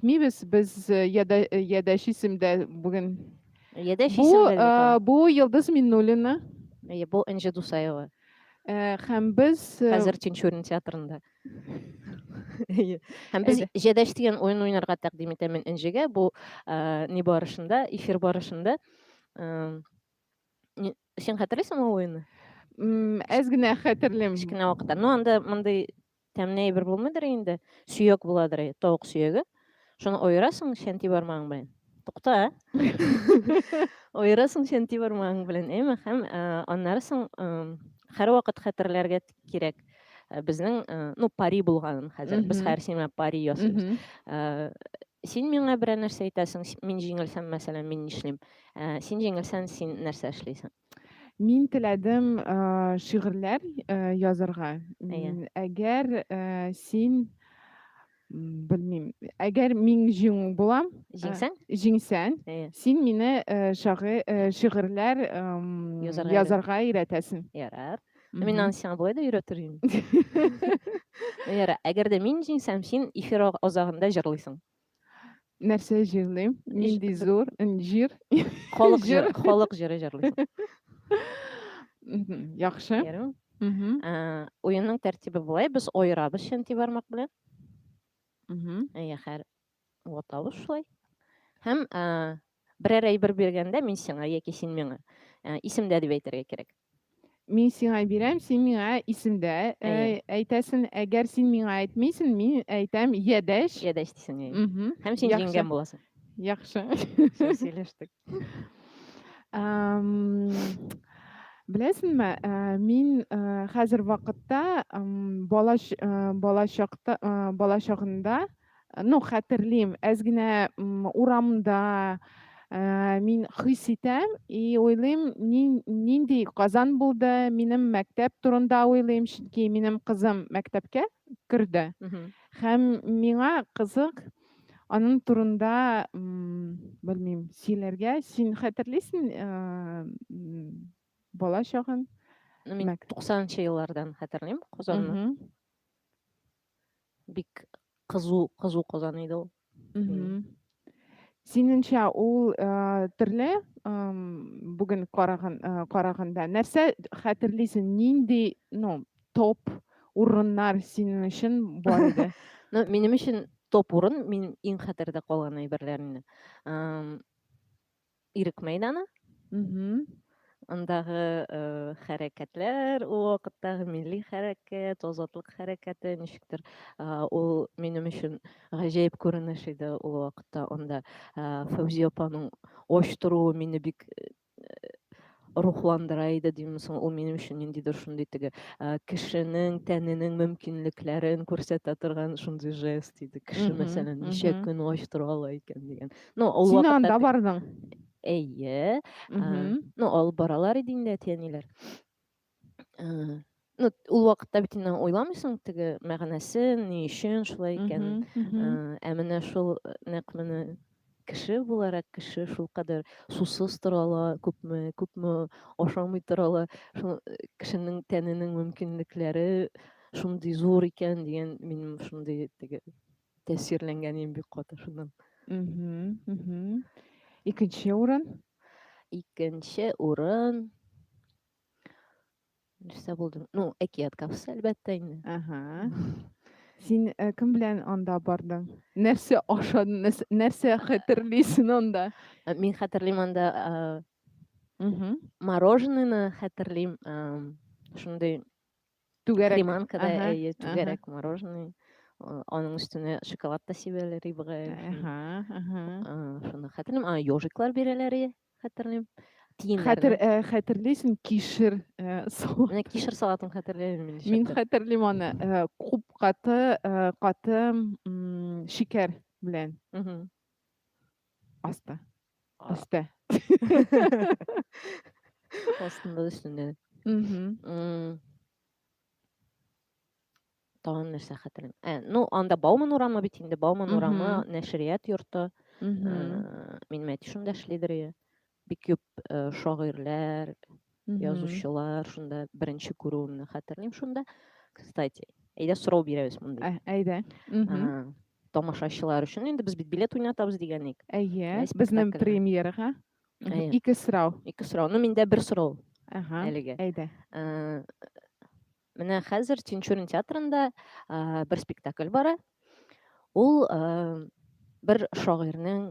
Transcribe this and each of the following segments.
Әйтмибез без яда ядәш исемдә бүген. Ядәш Бу исемдә бит э, ул. бу Йылдыз Миннуллина Әйе, Бу Энҗе Дусаева. э, һәм без э, Хәзер Тинчурин театрында. Әйе. Һәм без Әйдә. Җәдәш дигән уен уйнарга тәкъдим итәм мин Энҗегә. Бу э, ни барышында, эфир барышында. э, ни- Син хәтерлисеңме ул уенны? м, әз генә хәтерлим. Кечкенә вакытта. Ну, анда мондый Тәмле әйбер булмыйдыр инде, сөяк буладыр, тавык сөяге. Шуны оерасың чәнти бармагың белән. Тукта. Оерасың чәнти бармагың белән, әйме? Һәм аннары соң һәрвакыт хәтерләргә кирәк. Э, безнең э, ну пари булганын хәзер без һәр сиңа пари ясыйбыз э, син миңа берәр нәрсә әйтәсең мин җиңелсәм мәсәлән мин нишлим син җиңелсәң син нәрсә эшлисең Мин теләдем э, шигырьләр э, язарга. Әйе. Әгәр э, син белмим, әгәр мин җиңү булам, э, Җиңсәң? җиңсәң, Әйе. син мине э, шагы, э, шигырьләр эм, Язарга өйрәт. язарга өйрәтәсең. Ярар. Мгм. Мин аны сиңа болай да өйрәтер идем. Ярар. Әгәр дә мин җиңсәм, син эфир азагында җырлыйсың. нәрсә җырлыйм нинди зур җыр халык җыры халык җыры җырлыйсың яхшы уенның тәртибе болай без аерабыз чөнти бармак белән әйе хәр ватабыз шулай һәм берәр әйбер биргәндә мин сиңа яки син миңа исемдә дип әйтергә кирәк мин сиңа бирәм, син миңа исемдә э, Әйе. әйтәсен, әгәр син миңа әйтмисен, мин әйтәм ядәш. Ядәш дисең. Угу. Һәм син җиңгән буласың. Яхшы. Сөйләштек. Беләсеңме, э, мин э, хәзер вакытта балачакта балачагында ну хәтерлим әз генә урамда ә, мин хис итәм и уйлыйм нинди казан булды минем мәктәп турында уйлыйм чөнки минем кызым мәктәпкә керде һәм миңа кызык аның турында белмим сөйләргә син хәтерлисең ә, бала чагын мин туксанынчы еллардан хәтерлим казанны бик кызу кызу казан иде ул синеңчә ул э, төрле э, бүген караган э, караганда нәрсә хәтерлисең нинди ну топ урыннар синең өчен бар иде ну минем өчен топ урын мин иң хәтердә калган әйберләр инде Ирек мәйданы. Андагы хәрәкәтләр, ул вакыттагы милли хәрәкәт, азатлык хәрәкәте, ничектер, ул минем өчен гаҗәеп күренеш иде ул вакытта. Анда Фәүзия апаның оч торуы мине бик рухландыра иде димме соң ул минем өчен ниндидер шундый теге кешенең тәненең мөмкинлекләрен күрсәтә торган шундый жест иде кеше мәсәлән ничә көн ач тора ала икән дигән ну ул син анда бардың әйе ну алып баралар иде инде әти әниләр ну ул вакытта бит инде уйламыйсың теге мәгънәсен ни өчен шулай икәнен ә менә шул нәкъ менә кеше буларак кеше шулкадәр сусыз тора ала күпме күпме ашамый тора ала шул кешенең тәненең мөмкинлекләре шундый зур икән дигән минем шундый теге тәэсирләнгәнем бик каты шуннан икенче урын икенче урын нәрсә булды ну әкият кафесы әлбәттә инде Ага. Син э, кем белән анда бардың? Нәрсә ашадың? нәрсә- Нәрсә хәтерлисең анда? Ә, мин хәтерлим анда ә, Мгм. мороженыйны хәтерлим ә, шундый Түгәрәк. Приманка да, Ага, әйе, ага. түгәрәк мороженое. Э, Аның өстенә шоколад та сибәләр рибага. Ага, ага. Э, Шуны хәтерлим. А, ежиклар бирәләр, е, хәтерлим. Хәтер, Тиеннәрне. э, хәтерлисең, кишер э, су. Менә кишер салатын хәтерләмим мин Мин ничектер. хәтерлим аны. э, Күп каты, э, каты м, шикәр белән. Мгм. Аста. Өстә. Астында да өстендә дә. Мгм. Тагын нәрсә хәтерлим. Ә, ну, анда Бауман урамы бит инде. Бауман урамы, Мгм. нәшрият йорты. Мгм. Ә, Минем әти шунда эшлидер иде. бик күп э, шагыйрьләр язучылар шунда беренче күрүемне хәтерлим шунда кстати әйдә сорау бирәбез монда ә, әйдә тамашачылар өчен инде без бит билет уйнатабыз дигән ник әйе безнең премьерага ике сорау ике сорау ну миндә бер сорау әлегә әйдә э, менә хәзер тинчурин театрында э, бер спектакль бара ул бер шагыйрьнең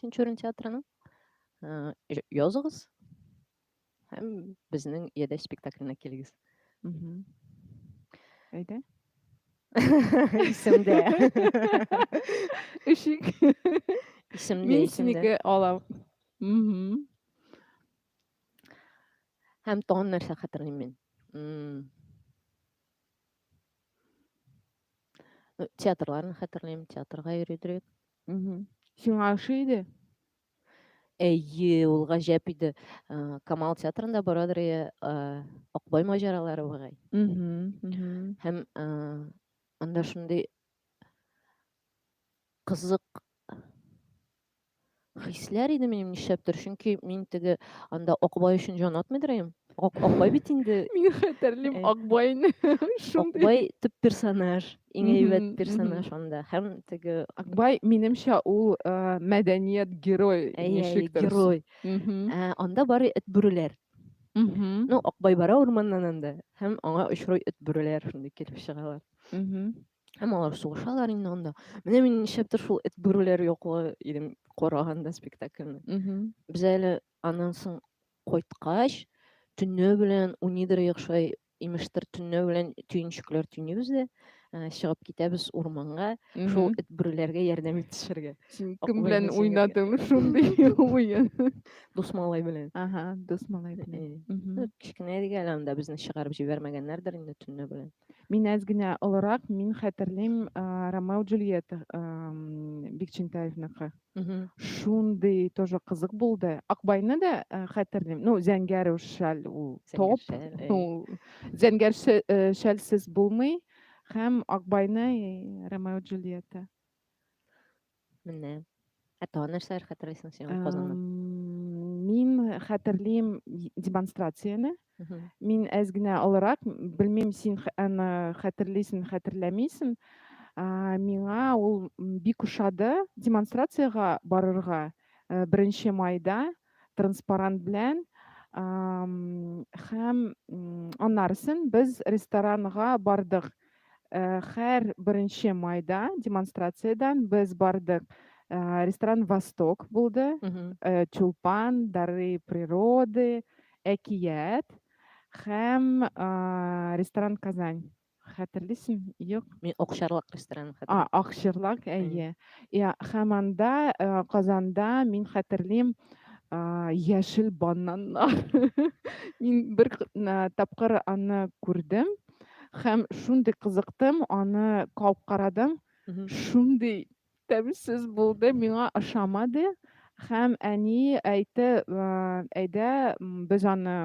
Тинчурин театрының э, языгыз һәм безнең яде спектаклена килегез. Әйдә. Исемдә. Ишек. Исемдә. Мин синеке алам. Һәм тагын нәрсә хәтерлим мин. Театрларны хәтерлим, театрга йөридек. Сиңа ошый иде? Әйе, ул гаҗәп иде. Камал театрында барадыр и Акбай маҗаралары бугай. Һәм анда шундый кызык хисләр иде минем нишләптер, чөнки мин теге анда Акбай өчен җан атмыйдыр идем. Ак, Акбай бит инде. Мин хәтерлим э, Акбайны. Акбай төп персонаж, иң әйбәт персонаж анда. Һәм теге Акбай минемчә ул э, мәдәният герой ничектер. Герой. Э, анда бары эт бүреләр. Ну, Акбай бара урманнан анда һәм аңа очрый эт бүреләр шундый килеп чыгалар. Һәм алар сугышалар инде анда. Менә мин нишләптер шул эт бүреләр яклы идем караганда спектакльне. Без әле Аннан соң кайткач, төнлә белән уйныйдырыйк шулай, имештер, төнлә белән төенчекләр төйнибез дә, ә, чыгып китәбез урманга, шул Мгм. эт бүреләргә ярдәм итешергә. Син Аклы кем белән әйнәсен уйнадың шундый уен? Дус малай белән. Ага, дус малай белән. Э, Мгм. ну, Кечкенә идек әле анда, безне чыгарып җибәрмәгәннәрдер инде төнлә белән. Мин әз генә олырак, мин хәтерлим, а, Ромео Джульетта ам, Бикчәнтаевныкы. Мгм. Шундый тоже кызык булды. Акбайны да э, хәтерлим. Ну, зәңгәр уж шәл ул топ. Зәңгәр шәл, әй. Ул зәңгәр шә- э, шәлсез булмый. Һәм Акбайны и Ромео и Джульетта. Менә. Ә тагын нәрсәләр хәтерлисең син ул Казаннан? Эм, Мин хәтерлим и- демонстрацияне. Мин әз генә олырак, белмим, син аны хәтерлисең, хәтерләмисең. Миңа ул бик ошады демонстрациягә барырга э, беренче майда транспарант белән һәм аннарысын без ресторанга бардык Э, хәр беренче майда демонстрациядән без бардык э, ресторан восток булды э, тюлпан дары природы әкият һәм ресторан казань хәтерлисең юк мин акчарлак ресторан а акчарлак әйе һәм анда казанда мин хәтерлим яшел бананнар мин бер тапкыр аны күрдем һәм шундый кызыктым аны кабып карадым шундый тәмсез булды миңа ошамады һәм әни әйтте әйдә без аны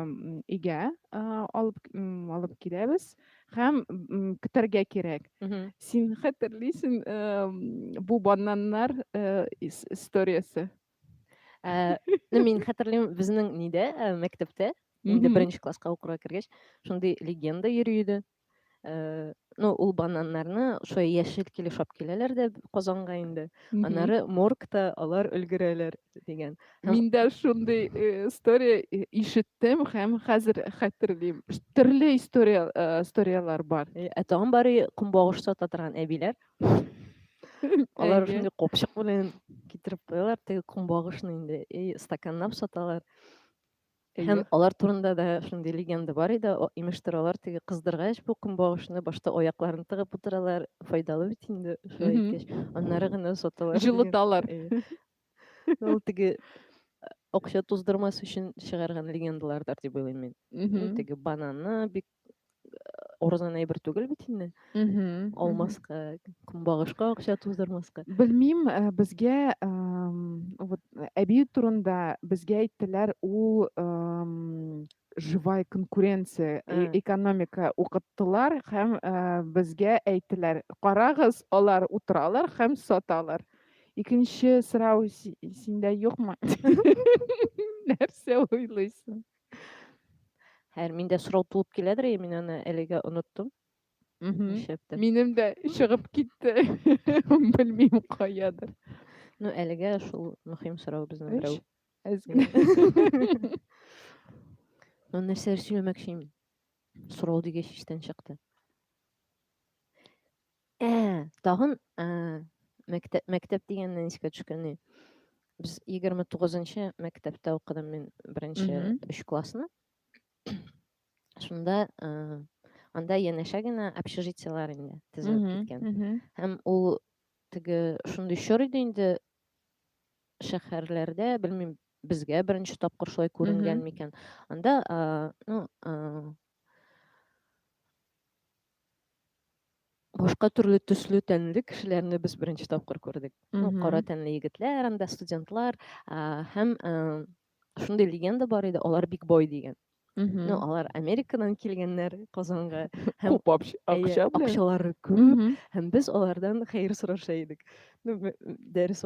өйгә алып алып киләбез һәм көтәргә кирәк син хәтерлисең бу бананнар историясе Э, ну, мин хәтерлим, безнең нидә, э, мәктәптә, инде беренче класска укырга кергәч, шундый легенда йөри иде. Э, ну, ул бананнарны шулай яшел килеш алып киләләр дә Казанга инде. Аннары моргта алар өлгерәләр дигән. Мин дә шундый история ишеттем һәм хәзер хәтерлим. Төрле история историяләр бар. Ә тагын бары кумбагыш сата торган әбиләр. Алар шундый копчык белән китереп куялар, теге кумбагышны инде и стаканнап саталар. Һәм алар турында да шундый легенда бар иде, имештер алар теге кыздыргач бу кумбагышны башта аякларын тыгып утыралар, файдалы бит инде шулай иткәч, аннары гына саталар. Җылыталар. Ул теге акча туздырмас өчен чыгарган легендалардар дип уйлыйм мин. Теге бананны бик орызган әйбер түгел бит инде алмаска көнбагышка акча туздырмаска белмим э, безгә вот әби турында безгә әйттеләр ул живая конкуренция э, экономика укыттылар һәм э, безгә әйттеләр карагыз алар утыралар һәм саталар икенче сорау синдә юкмы нәрсә уйлыйсың Хәер, миндә сорау туып киләдер, и, мин аны әлегә оныттым. Нишләптер. Минем дә чыгып китте. Белмим каядыр. Ну, әлегә шул мөһим сорау безнең берәү. Әзгә. Ну, нәрсәләр сөйләмәкче инде. Сорау дигәч иштән чыкты. Ә, тагын, ә, мәктәп, мәктәп дигәннән искә төшкәне. Без 29-нчы мәктәптә укыдым мин беренче Мгм. өч классны. Шунда ә, анда янәшә генә общежитиелар инде тезелеп Мгм, киткән. мгм. Һәм ул теге шундый чор иде инде шәһәрләрдә, белмим, безгә беренче тапкыр шулай күренгән Мгм. микән. Анда, а, ну, а, башка төрле төсле тәнле кешеләрне без беренче тапкыр күрдек ну кара тәнле егетләр анда студентлар һәм шундый легенда бар иде алар биг бой дигән ну алар америкадан килгәннәр казанга һәм күп акча акчалары күп һәм без алардан хәер сораша идек ну дәрес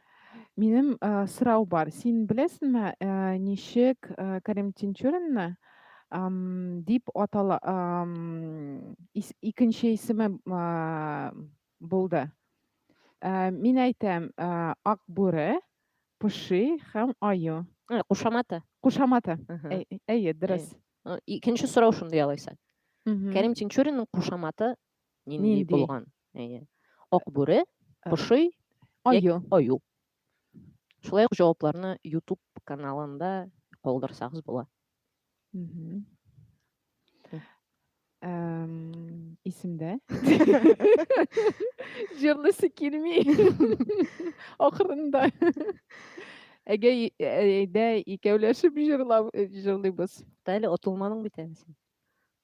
Минем, э, сорау бар. Син беләсеңме, э, ничек, э, Кәрим Тинчуринны, ам, дип атала ам, ис икенче исеме, а, булды? Э, мин әйтәм, э, Ак бүре, Поши һәм Аю. Э, кушаматы. Кушаматы. Мгм. Әй- Әйе, дөрес. Э, Икенче сорау шундый алайса. Мгм. Кәрим Тинчуринның кушаматы нинди Нинди? булган? Әйе. Акбүре, пошый, аю. Аю. Шулай ук җавапларны YouTube каналында калдырсагыз була. Исемдә. Җырлысы килми. Ахырында. Әгә әйдә икәүләшеп җырлап җырлыйбыз. Әле отылманың бит әле син.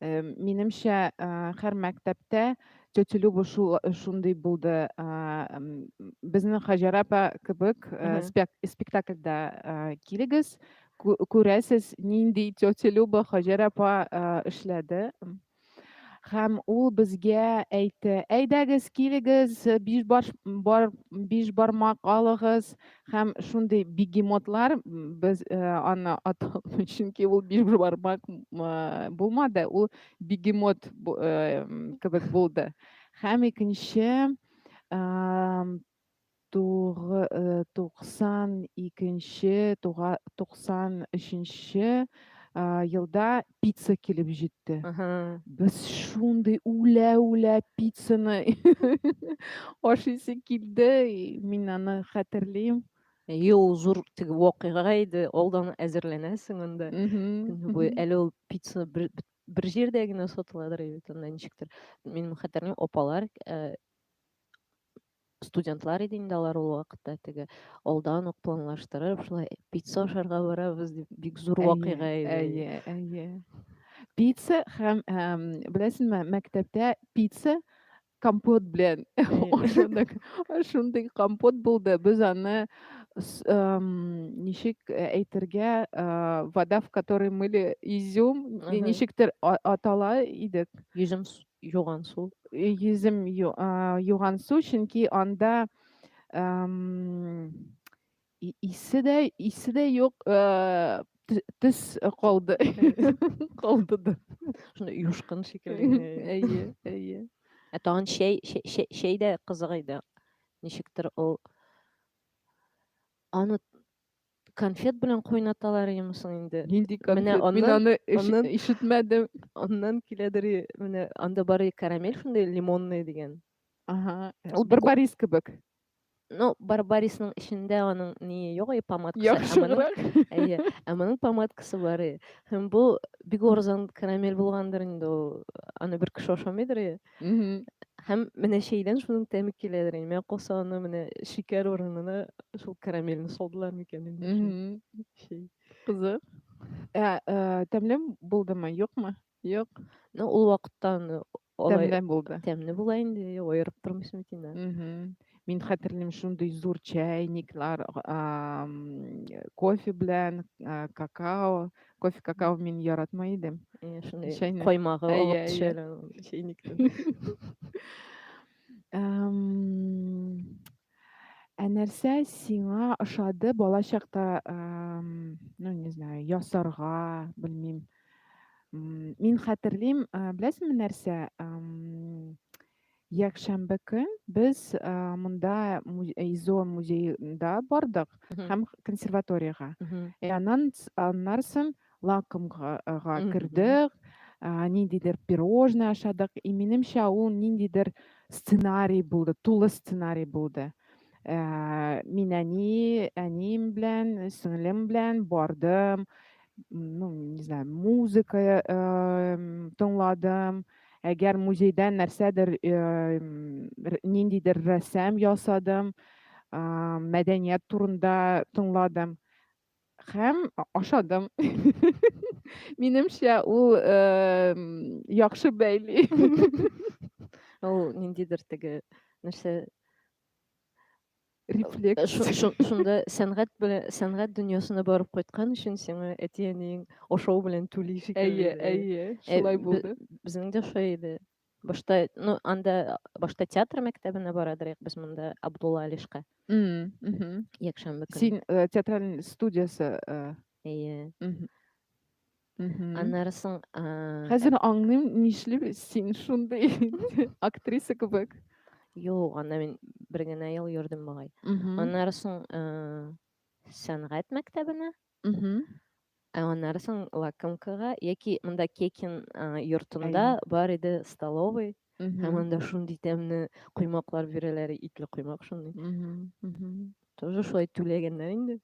Минемчә, һәр мәктәптә тетя Люба шул шундый булды. Безнең Хаҗар апа кебек спектакльдә килегез, күрәсез, нинди тетя Люба Хаҗар апа эшләде. Һәм ул безгә әйтте, әйдәгез, килегез, биш бармак алыгыз, Һәм шундый бегемотлар без э, аны аталмый, чөнки ул биш бармак э, булмады, ул бегемот э, кебек булды. Һәм икенче туксан икенче туксан өченче елда пицца килеп җитте. Без шундый үлә-үлә пиццаны ашыйсы килде. Мин аны хәтерлим. Әйе, ул зур теге вакыйга иде. Алдан әзерләнәсең анда. Көне буе әле ул пицца бер, бер җирдә генә сатыладыр бит анда ничектер. Мин хәтерлим, апалар э, Студентлар иде инде алар ул вакытта теге алдан ук планлаштырып, шулай пицца ашарга барабыз дип бик зур вакыйга иде. Әйе, әйе. Пицца һәм эм, беләсеңме, мәктәптә пицца компот белән ашадык. Шундый компот булды. Без аны ничек э, әйтергә, э, вода, в которой мыли изюм, ничектер атала идек. Изюм Юган су. Йөзем юган су, чөнки анда исе дә, исе дә юк, төс калды. Калды да. Шуны юшкын шикелле. Әйе, әйе. Ә тагын чәй, чәй дә кызык иде. Ничектер ул аны Конфет белән кайнаталар имесең инде. Нинди конфет? Менә Мин аны аннан... ишетмәдем. Аннан киләдер, менә анда бары карамель шундый лимонный дигән. Ага. Ул бер барис кебек. Ну, барбарисның эчендә аның ни юк, и помадкасы. Яхшырак. Әйе. Ә моның помадкасы бар. Һәм бу бик арзан карамель булгандыр инде ул. Аны бер кеше ашамыйдыр. Мгм. Һәм менә чәйдән шуның тәме киләдер инде. Менә калса аны менә шикәр урынына шул карамельне салдылар микән инде шул Мгм. чәй. Кызык. Ә, ә, тәмле булдымы, юкмы? Юк. Ну, ул вакытта аны алай Тәмле булды. тәмле була инде, аерып тормыйсың бит инде. Мгм. Мин хәтерлим шундый зур чәйниклар, кофе белән, какао. Кофе, какао мин яратмай идем. Э, шундый чәйнек. Коймагы алып төшәләр чәйниктән. Ә нәрсә сиңа ошады бала чакта, ну, не знаю, ясарга, белмим. Мин хәтерлим, беләсеңме нәрсә? Якшәмбе көн без монда ИЗО музеенда бардык һәм консерваториягә. Ә аннан аннан соң лакомга кердек, ниндидер пирожное ашадык. И минемчә ул ниндидер сценарий булды, тулы сценарий булды. Ә, мин әни, әнием белән, сеңлем белән бардым. Ну, не знаю, музыка э, тыңладым. Э, Әгәр музейдән нәрсәдер ниндидер рәсәм ясадым, мәдәният турында тыңладым һәм ашадым. Минемчә, ул яхшы бәйли. Ул ниндидер теге нәрсә Рефлекс. Шунда сәнгать белән сәнгать дөньясына барып кайткан өчен сиңа әти-әниең ашау белән түли шикелле. Әйе, әйе, шулай булды. Безнең дә шулай иде. Башта, ну, анда башта театр мәктәбенә бара дирек без монда Абдулла Алишка. Якшәмбе көне. Син театраль студиясе. Әйе. Аннары соң... Хәзер э, аңлыйм, нишләп син шундый актриса кебек. Юк, анда мин бер генә ел йөрдем бугай. Аннары соң э, сәнгать мәктәбенә, ә аннары соң лакомкага яки монда Кекин э, йортында бар иде столовый. Һәм анда шундый тәмле коймаклар бирәләр, итле коймак шундый. Тоже шулай түләгәннәр инде.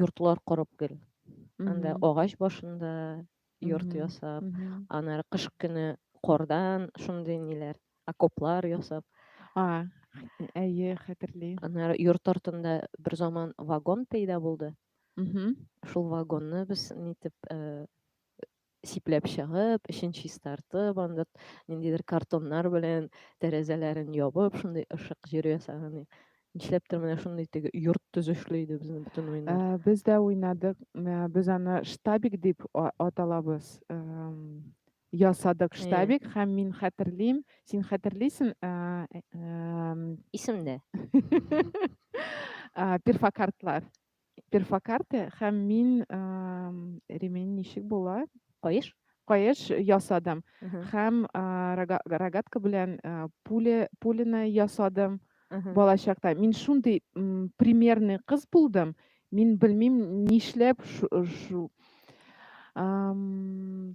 йортлар корып гел анда агач башында йорт ясап анары кыш көне кордан шундый ниләр окоплар ясап әйе хәтерлим анары йорт артында бер заман вагон пәйда булды шул вагонны без нитеп э, сипләп чыгып, эчен чистартып, анда ниндидер картоннар белән тәрәзәләрен ябып, шундый ышык җир ясаган. Нишләптер менә шундый теге йорт төзешле иде безнең бөтен уйнар. Ә, без дә уйнадык. Ә, без аны штабик дип а- аталабыз. Эм, Ясадык штабик һәм мин хәтерлим, син хәтерлисең, ә, эм, Исемдә. а, перфокартлар. перфокарте һәм мин ремень ничек була каеш каеш ясадым һәм рогатка белән пуля пуляны ясадым бала чакта мин шундый примерный кыз булдым мин белмим нишләп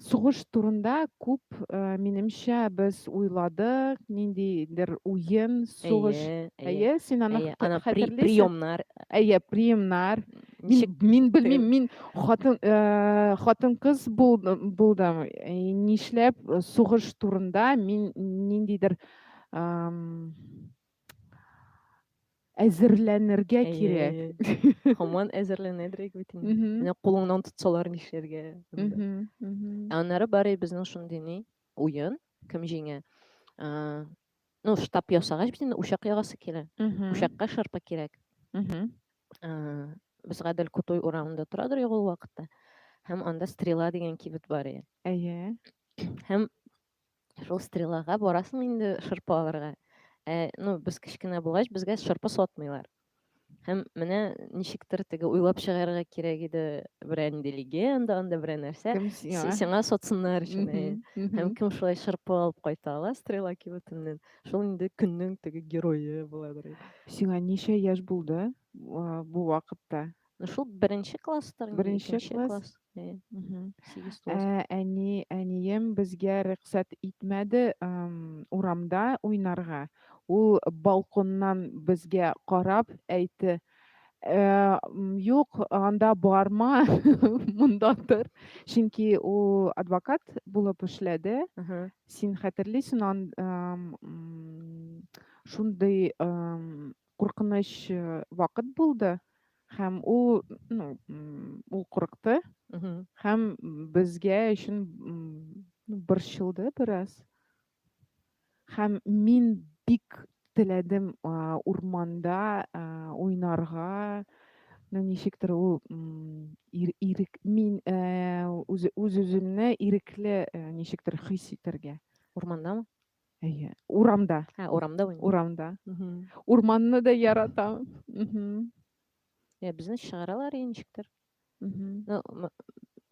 сугыш турында күп минемчә без уйладык ниндидер уен сугыш әйе син аны хәтерлисең приемнар әйе приемнар мин белмим мин хатын хатын кыз булдым нишләп сугыш турында мин ниндидер әзерләнергә кирәк. Хаман әзерләнәдрәк бит инде. Менә кулыңнан тотсалар нишләргә? Ә аннары бары безнең шундый ни уен, кем җиңә? Ну, штаб ясагач бит инде учак ягасы килә. Учакка шырпы кирәк. Без Гадел Кутой урамында торадыр ягул вакытта. Һәм анда стрела дигән кибет бар иде. Әйе. Һәм Шул стрелага барасың инде шырпы алырга. Ә, ну, без кечкенә булгач, безгә шырпы сатмыйлар. Һәм менә ничектер теге уйлап чыгарырга кирәк иде берән ди легенда, анда берән нәрсә. Сиңа сатсыннар өчен. Һәм кем шулай шырпы алып кайта ала стрела кибетеннән, шул инде көннең теге герое буладыр. Сиңа ничә яшь булды бу вакытта? Ну шул беренче класстыр, беренче класс. класс. Ә, әни, әнием безгә рөхсәт итмәде урамда уйнарга. Ул балконнан безгә карап әйтте, ә, юк, анда барма, монда тор. Чөнки ул адвокат булып эшләде. Син хәтерлисең, ан, шундый куркыныч э, вакыт булды һәм ул ну ул курыкты һәм безгә өчен борчылды бераз һәм мин бик теләдем урманда уйнарга ну ничектер ул ирек мин э, үз үземне ирекле э, ничектер хис итәргә урмандамы Әйе, урамда. Ә, урамда уйный. Урамда. Урманны да яратам. Ә безне чыгаралар инешектер. Ну,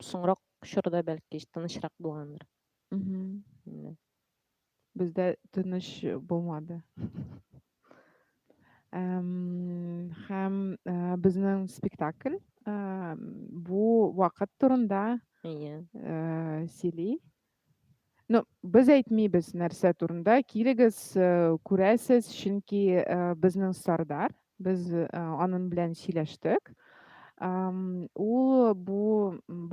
соңрак чорда бәлки тынычрак булгандыр. Бездә тыныч булмады. Һәм э, безнең спектакль э, бу вакыт турында э, сөйли. Ну, без әйтмибез нәрсә турында. Килегез, э, күрәсез, чөнки э, безнең Сардар, без э, анын белән сөйләштек. Ул бу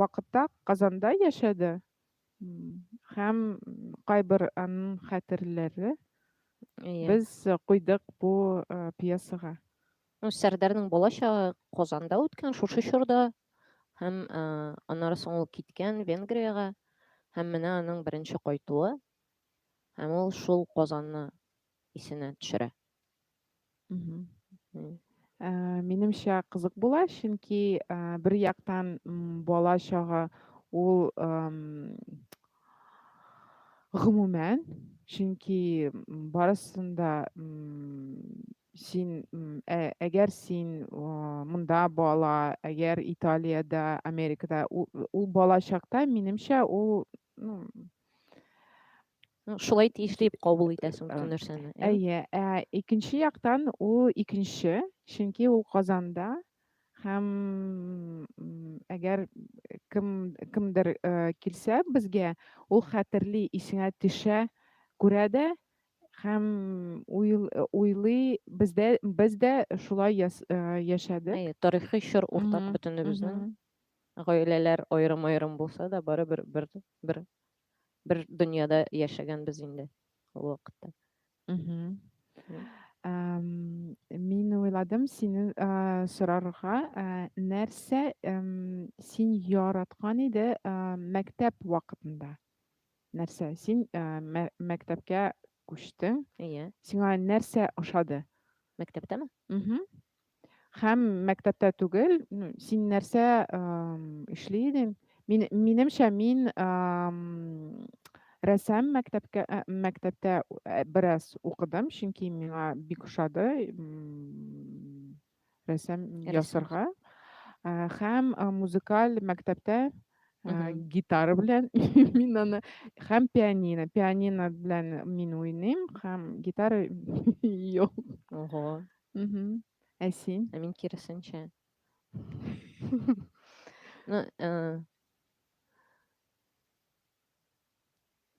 вакытта Казанда яшәде һәм кайбер анын хәтерләре без куйдык бу пьесага. Ну, Сәрдәрнең балачагы Казанда үткән шушы чорда һәм ә, аннары соң ул киткән Венгриягә һәм менә аның беренче кайтуы һәм ул шул Казанны исенә төшерә. Ә, минемчә кызык була, чөнки ә, бер яктан бала чагы ул гомумән, чөнки барысында син ә, әгәр син монда бала әгәр италиядә америкада ул, ул бала чакта минемчә ул ну, шулай тиешле дип кабул итәсең бөтен нәрсәне әйе ә икенче яктан ул икенче чөнки ул казанда һәм әгәр кем кемдер килсә безгә ул хәтерли исеңә төшә күрә дә һәм уйл, э, уйлый бездә без дә шулай яс, э, яшәдек. Әйе, тарихи чор уртак Мгм, бөтенебезнең. мгм. Гаиләләр аерым-аерым булса да, барыбер бер бер бер дөньяда яшәгәнбез инде ул вакытта. Мгм. Мгм. Ам, Мин уйладым сине а, сорарга, а, нәрсә ам, син яраткан иде а, мәктәп вакытында? нәрсә? Син ә, мә, мәктәпкә күчтең. Әйе. Сиңа нәрсә ошады? Мәктәптәме? Угу. Һәм мәктәптә түгел, ну, син нәрсә ә, эшли идең? Мин, минемчә, мин ә, рәсәм мәктәпкә, ә, мәктәптә ә, бераз укыдым, чөнки миңа бик ошады. рәсем ясарга һәм музыкаль мәктәптә гитара белән мин аны һәм пианино пианино белән мин уйныйм һәм гитара юк ого ә син ә мин киресенчә ну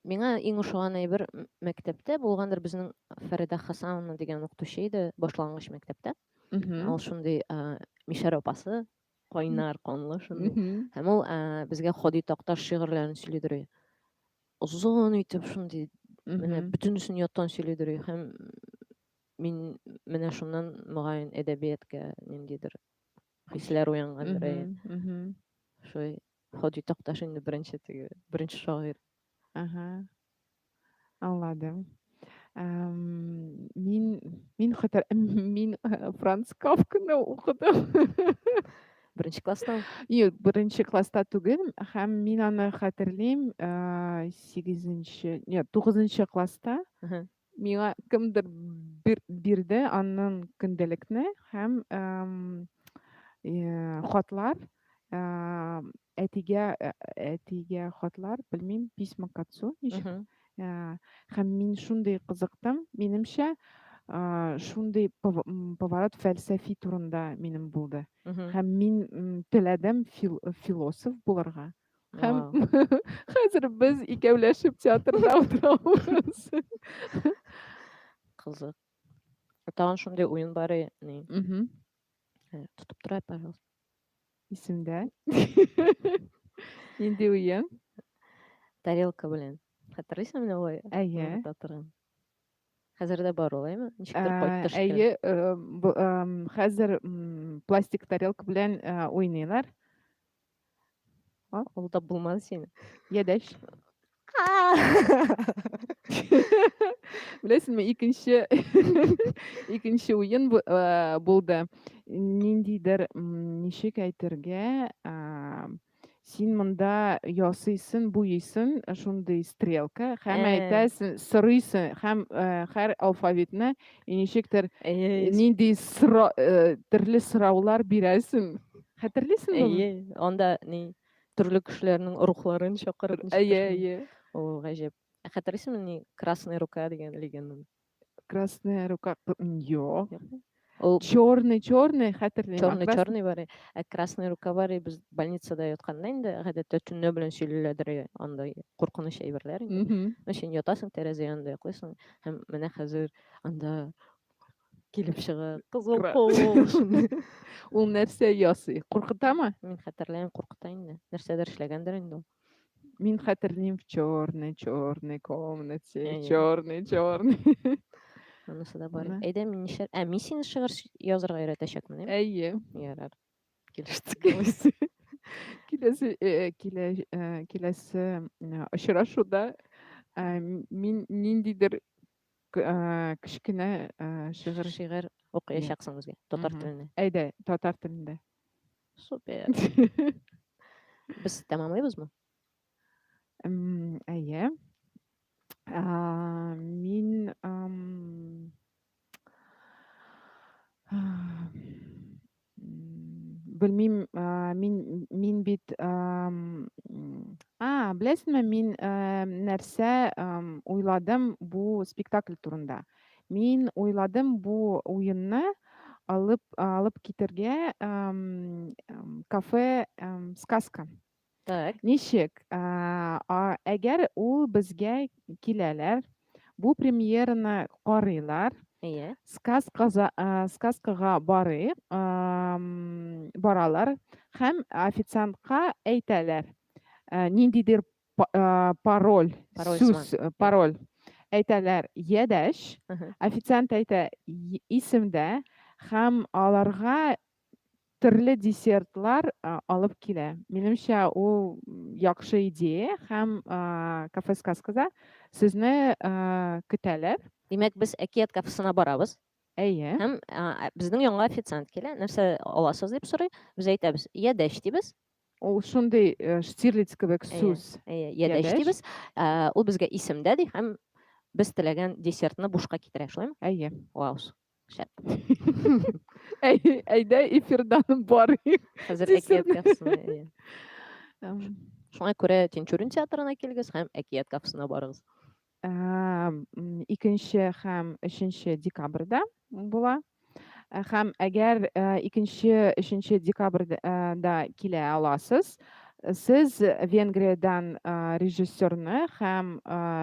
Миңа иң ошаган әйбер мәктәптә булгандыр безнең Фәридә Хасановна дигән укытучы иде башлангыч мәктәптә. Ул шундый мишәр апасы, кайнар канлы шундый. Һәм ул безгә Ходи Такташ шигырьләрен сөйлидер. Озын итеп шундый менә бөтенесен яттан сөйлидер һәм мин менә шуннан мөгаен әдәбиятка ниндидер хисләр уянгандыр. Шуй Ходи Такташ инде беренче теге, беренче шагыйрь. Ага. Аңладым. Эм, мин мин хәтер мин э, Франц Кафканы укыдым. Беренче класста. Юк, беренче класста түгел, һәм мин аны хәтерлим, 8 э, нет, 9 класста. Миңа кемдер бирде аннан көндәлекне һәм хатлар әтигә әтигә хатлар белмим письма к отцу ничек һәм мин шундый кызыктым минемчә шундый поворот фәлсәфи турында минем булды һәм мин теләдем философ булырга Һәм хәзер без икәүләшеп театрда утырабыз. Кызык. Тагын шундый уен бар ни. Тотып тора, пожалуйста. Исемдә. Нинди уен? Тарелка белән. Хәтерлисең менә ой? Әйе. Татырын. Хәзер дә бар олаймы? Ничектер кайтты. Әйе, э, хәзер пластик тарелка белән э, уйныйлар. А, ул да булмады сине. Ядәш. Беләсеңме, икенче икенче уен э, булды. Ниндидер ничек әйтергә, син монда ясыйсын, буйысын, шундый стрелка һәм э. әйтәсен, сорыйсын һәм э, һәр алфавитны ничектер нинди төрле сораулар бирәсен. Хәтерлисең бу? Әйе, анда ни төрле кешеләрнең рухларын чакырып. Әйе, әйе. О, гаҗәп. Ә хәтерлисеңме ни Красная рука дигән легенданы? Красная рука. Йо. Ул черный, черный хәтерлим. Черный, крас... черный бар. Ә красная рука бар, без больницада ятканда инде гадәттә төнлә белән сөйлиләдер андай куркыныч әйберләр инде. Өчен ятасың тәрәзә янында йоклыйсың һәм менә хәзер анда килеп чыгып кызыл куып ул нәрсә ясый куркытамы мин хәтерләмим куркыта инде нәрсәдер эшләгәндер инде ул мин хәтерлим в черной черной комнате в черной черной анысы да бар әйдә мин нишләр ә мин сине шигырь язырга өйрәтәчәкмен әйе ярар килештек киләсе киләсе очрашуда мин ниндидер Кечкенә шигырь. Шигырь укыячаксың безгә татар телендә. Әйдә, татар телендә. Супер. Без тәмамлыйбызмы? Әйе. Мин белмим мин мин бит а беләсеңме мин нәрсә уйладым бу спектакль турында мин уйладым бу уенны алып алып китергә кафе сказка Так. Ничек? Әгәр ул безгә киләләр, бу премьераны карыйлар, Әйе. Сказкага бары баралар һәм официантка әйтәләр, ниндидер пароль, сүз, пароль әйтәләр, ядәш. Официант әйтә исемдә һәм аларга төрле десертлар алып килә. Минемчә, ул яхшы идея һәм кафе сказкада сезне көтәләр. Димәк, без әкият кафесына барабыз. Әйе. Һәм безнең янга официант килә, нәрсә аласыз дип сорый. Без әйтәбез, ядәш дибез. Ул шундый штирлиц кебек сүз. Әйе, ядәш дибез. Ул безгә исемдә ди һәм без теләгән десертны бушка китерә, шулаймы? Әйе. Вау. Әйдә эфирдан барыйк. Хәзер әкият кафесына. Шуңа күрә Тинчурин театрына килегез һәм әкият кафесына барыгыз. Икенче һәм өченче декабрьдә була. Һәм әгәр икенче, өченче декабрьдә килә аласыз, сез Венгриядән режиссерны һәм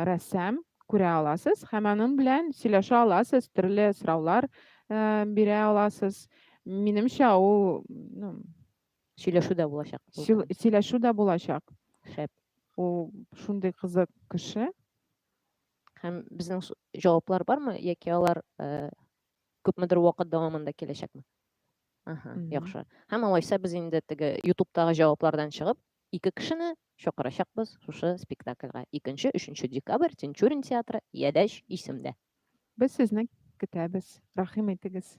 рәссам күрә аласыз һәм аның белән сөйләшә аласыз, төрле сораулар э, бирә аласыз. Минемчә, ул ну, Сөйләшү дә булачак. сөйл- сөйләшү дә булачак. Шәп. Ул шундый кызык кеше. Һәм безнең с- җаваплар бармы, яки алар э, күпмедер вакыт дәвамында киләчәкме? Ага, Мгм. яхшы. Һәм алайса без инде теге ютубтагы җаваплардан чыгып, Ике кешене чакырачакбыз шушы спектакльгә, икенче, өченче декабрь, Тинчурин театры, Ядәч исемдә. Без сезне көтәбез, рәхим итегез.